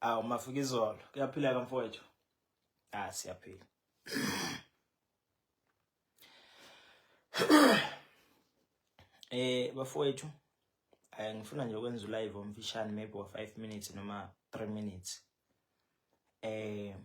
awu mafika izolo kuyaphila ka mfowethu ah siyaphila eh bafowethu eh ngifuna nje ukwenza ulive omfishane maybe wa 5 minutes noma 3 minutes eh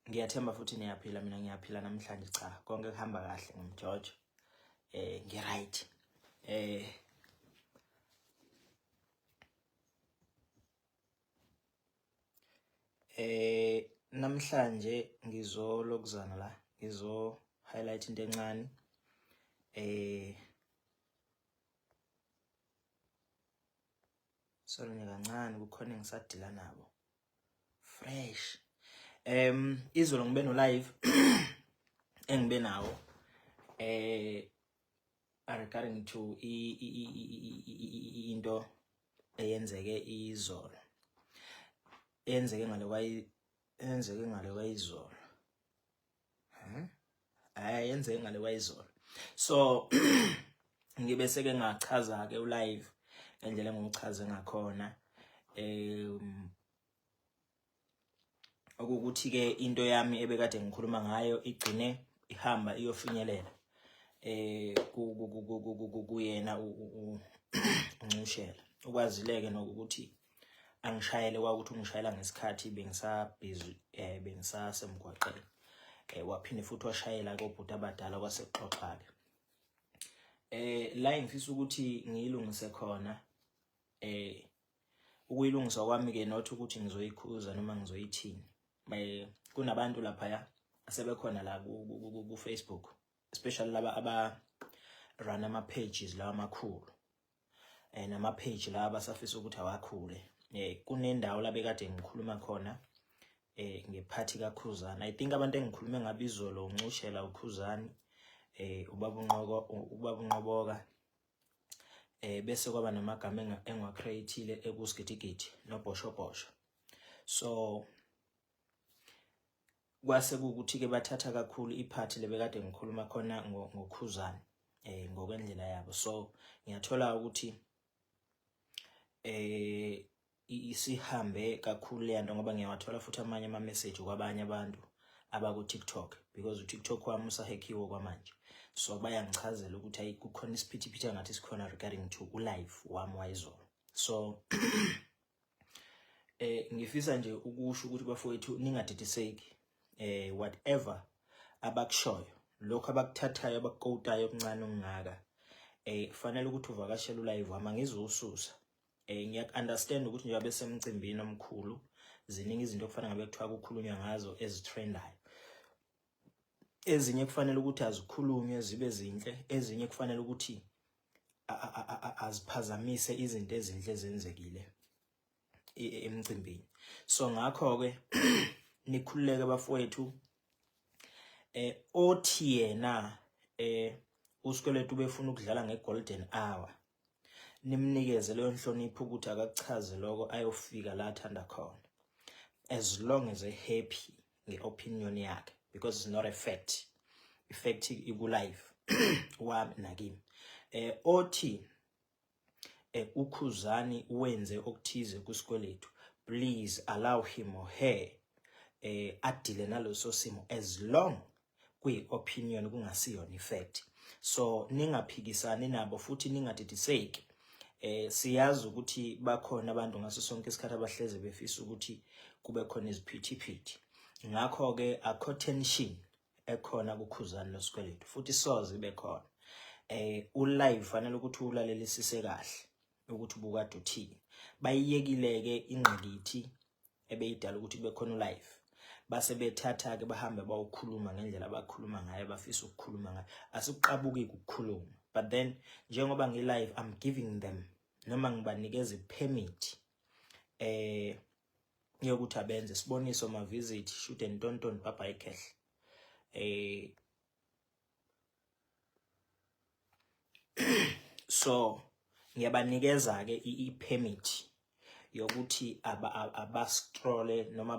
Ngiyathemba futhi niyaphila mina ngiyaphila namhlanje cha konke kuhamba kahle ngimjojo eh ngi right eh eh namhlanje ngizolokuzana la ngizo highlight into encane eh sorry kancane kukhona engisadila nabo fresh em izolo ngibe no live engibe nawo eh regarding to into eyenzeke izolo eyenzeke ngale kwayenzeke ngale kwayizolo hmm? hayi yenze ngale wayizolo so ngibe seke ngachaza ke ulive ngendlela engichaze ngakhona um okukuthi ke into yami ebekade ngikhuluma ngayo igcine ihamba iyofinyelela eh kuyena uncushela ukwazileke nokuthi angishayele kwakuthi ungishayela ngesikhathi bengisabhizi eh bengisasemgwaqeni eh waphinde futhi washayela kobhuti abadala kwasexoxa-ke eh la ngifisa ukuthi ngiyilungise khona eh ukuyilungisa kwami ke not ukuthi ngizoyikhuza noma ngizoyithini eh, kunabantu lapha ya asebekhona la ku Facebook especially laba aba run ama pages lawa amakhulu eh, nama page la abasafisa ukuthi awakhule eh kunendawo la bekade ngikhuluma khona eh ngephathi kaKhuzani i think abantu engikhulume ngabe izolo uncushela uKhuzani eh ubaba unqoko ubaba unqoboka eh bese kwaba namagama engwa createile ekusigidigidi nobhoshobhosho so kwase kukuthi-ke bathatha kakhulu iphathi lebekade ngikhuluma khona ngokhuzane eh ngokwendlela yabo so ngiyathola ukuthi eh isihambe kakhulu le nto ngoba ngiyawathola futhi amanye ama-message kwabanye abantu abaku-tiktok because utiktok wami usahekhiwe kwamanje so bayangichazela ukuthi ayi kukhona isiphithiphithi angathi sikhona regarding to ulive wami wayizolo so eh ngifisa nje ukusho ukuthi bafowethu ningadidiseki eh whatever abakushoyo lokho abakuthathayo abakukotayo okuncane okungaka eh kufanele ukuthi uvakashele ulive wami ngizosusa eh ngiyak understand ukuthi njengoba besemcimbini omkhulu ziningi izinto okufanele ngabe kuthiwa kukhulunywa ngazo ezitrendayo ezinye kufanele ukuthi azikhulunywe zibe zinhle ezinye kufanele ukuthi aziphazamise izinto ezinhle zenzekile emcimbini so ngakho ke nikhululeke bafowethu eh othi yena eh uSkweletu befuna ukudlala ngeGolden Hour nimnikeze leyo nhlonipho ukuthi akakuchaze lokho ayofika la athanda khona as long as a happy nge-opinion yakhe because it's not a fact ifact ikulife wami nakimi eh othi eh ukhuzani wenze okuthize kusikweletu please allow him or her eh adile naloso simo as long kuyi opinion kungasiyona ifact so ningaphikisani nabo futhi ningadidiseki eh siyazi ukuthi bakhona abantu ngaso sonke isikhathi abahleze befisa ukuthi kube khona iziphithiphithi ngakho ke akho tension ekhona kukhuzani losikweletu futhi soze ibe khona eh ulive fanele ukuthi ulalelisise kahle ukuthi ubukade uthini bayiyekileke ingqikithi ebeyidala ukuthi kube khona ulive base bethatha ke bahambe bawukhuluma ngendlela abakhuluma ngayo bafisa ukukhuluma ngayo asikuqabuki ukukhuluma but then njengoba ngi live i'm giving them noma ngibanikeza ipermit eh yokuthi abenze siboniso ma visit shoot and tonton baba ikhehle eh so ngiyabanikeza ke i-permit yokuthi abastrole noma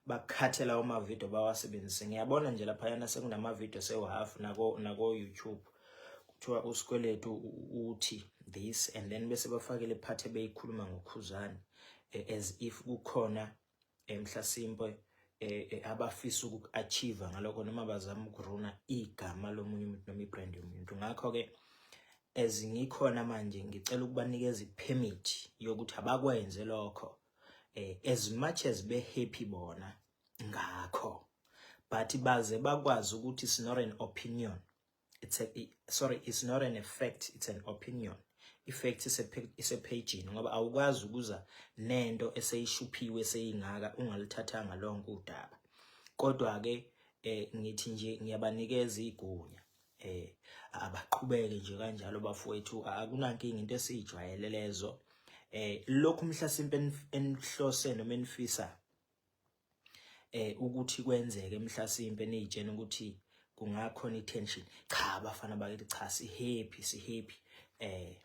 bakhathela amavidiyo bawasebenzise ngiyabona nje laphayana sekunamavidiyo sewu-half nako-youtube nako kuthiwa usikweletu uthi this and then bese bafakele iphathi ebeyikhuluma ngokhuzane as if kukhona emhlasimpe eh, eh, abafisa uku-achieve ngalokho noma bazama ukuruna igama lomunye umuntu noma ibrand yomuntu ngakho-ke as ngikhona manje ngicela ukubanikeza i-permit yokuthi abakwenze lokho eh, as much as be-happy bona ngakho but baze bakwazi ukuthi it's not an opinion it's a sorry it's not an effect it's an opinion effect isephejini ngoba awukwazi ukuza nento eseyishuphiwe seyingaka ungalithathanga lonke udaba kodwa ke eh ngithi nje ngiyabanikeza igunya eh abaqhubeke nje kanjalo bafowethu akunankinga into esijwayele lezo eh lokhu mhlasimpe enihlose noma enifisa eh ukuthi kwenzeke mhlasimpe niyitshena ukuthi kungakhona i-tension cha abafana bakithi cha si-happy si-happy eh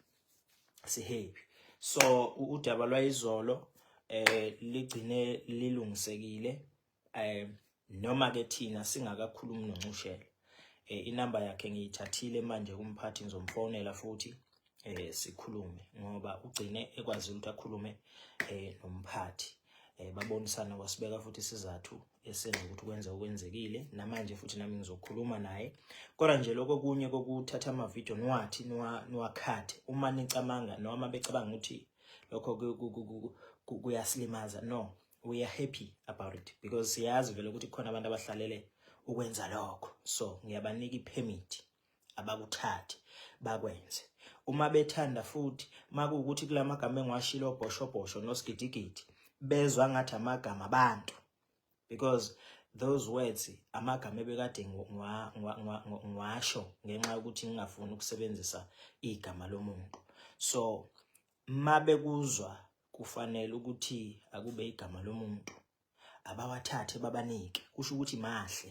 si-happy so udaba lwayizolo eh ligcine lilungisekile eh noma ke thina singakakhulumi noncushela eh inamba yakhe ngiyithathile manje kumphathi ngizomfonela futhi eh sikhulume ngoba ugcine ekwazi ukuthi akhulume eh nomphathi eh babonisana wasibeka futhi isizathu esenza ukuthi kwenza okwenzekile namanje futhi nami ngizokhuluma naye kodwa nje lokho kunye kokuthatha ama video niwathi niwakhathe uma nicamanga noma becabanga ukuthi lokho kuyasilimaza no we are happy about it because siyazi vele ukuthi khona abantu abahlalele ukwenza lokho so ngiyabanika ipermit abakuthathi bakwenze uma bethanda futhi makuwukuthi kulamagama engiwashilo obhoshobhosho nosigidigidi bezwa ngathi amagama abantu because those words amagama ebekade ngiwasho ngenxa yokuthi ngingafuni ukusebenzisa igama lomuntu so mabekuzwa kufanele ukuthi akube igama lomuntu abawathathe babanike kusho ukuthi mahle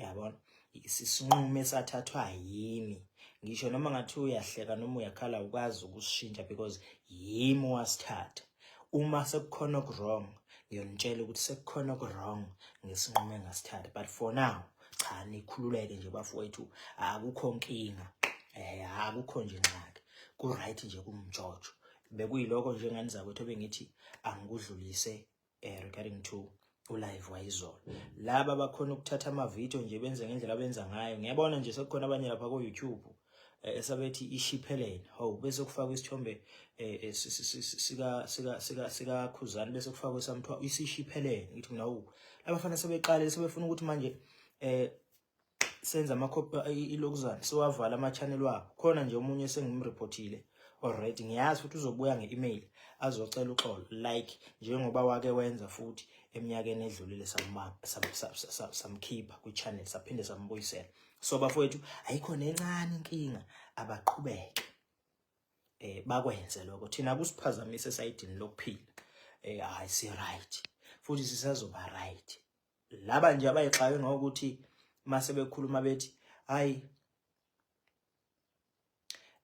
yabona isinqumo esathathwa yimi ngisho noma ngathi uyahleka noma uyakhala ukwazi ukusishintsha because yimi wasithatha uma sekukhona okwrong ngiyonitshela ukuthi sekukhona okwrong ngesinqumo engasithatha but for now cha nikhululeke nje bafowethu akukho nkinga eh akukho nje ngxaki ku right nje kumjojo bekuyiloko nje ngani zakwethu bengithi angikudlulise eh, regarding to ulive wayizolo laba bakhona ukuthatha amavidiyo nje benze ngendlela abenza ngayo ngiyabona nje sekukhona abanye lapha ko-youtube eh, esabethi ishipheleni hawu bese kufakwa isithombe eh, eh, sikakhuzane bese kufakwa esamthiwa isishipheleni ngithi mina wu labafana sebeqalile sebefuna ukuthi manje um senza ama ilokuzana siwavala ama channel wabo khona nje omunye sengimreportile already ngiyazi ukuthi uzobuya nge-email azocela uxolo like njengoba wake wenza futhi eminyakeni edlulile samkhipha kwi-channel saphinde sambuyisela so bafowethu ayikho nencane inkinga abaqhubeke eh bakwenze lokho thina kusiphazamise esayidini lokuphila eh hayi si right futhi sisazoba right laba nje abayixake ngokuthi mase bekhuluma bethi hayi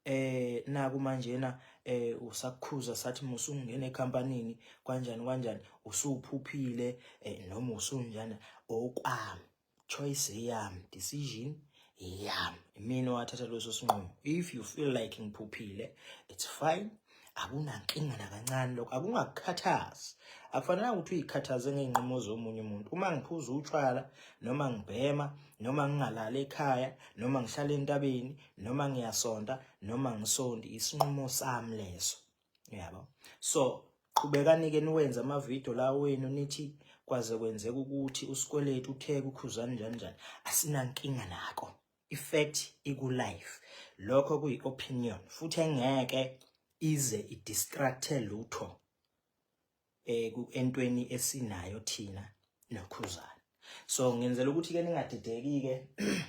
eh naku manjena eh usakukhuza sathi musungene ecompanyini kanjani kanjani usuphuphile eh, noma usunjani okwami choice yami decision yeah mina wathatha leso sinqumo if you feel like ngiphuphile it's fine akunankinga nakancane lokho akungakukhathazi akufanelanga ukuthi uyikhathaze ngey'nqumo zomunye umuntu uma ngiphuza utshwala noma ngibhema noma ngingalali ekhaya noma ngihlala entabeni noma ngiyasonta noma ngisondi isinqumo sami leso yabo so qhubekanike niwenze amavidiyo la wenu nithi kwaze kwenzeka ukuthi usikweletu utheke ukhuzani njani njani asinankinga nako ifact ikulife lokho kuyi-opinion futhi engeke ize idistracthe lutho eh entweni esinayo thina nokhuzana so ngenzela ukuthi ke ningadideki ke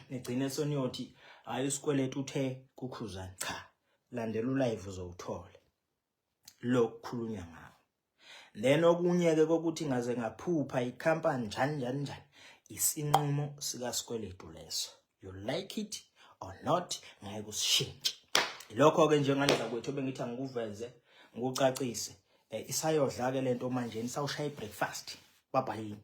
nigcine soniyothi hayi isikweletu uthe kukhuzana cha landela ulive uzowuthola lokukhulunywa ngawo then okunye ke kokuthi ngaze ngaphupha icompany njani njani njani isinqumo sikasikweletu leso you like it or not ngeke usishintshe lokho ke njengale zakwethu bengithi angikuveze ngikucacise eh, isayodla ke lento manje isawushaya ibreakfast babhayini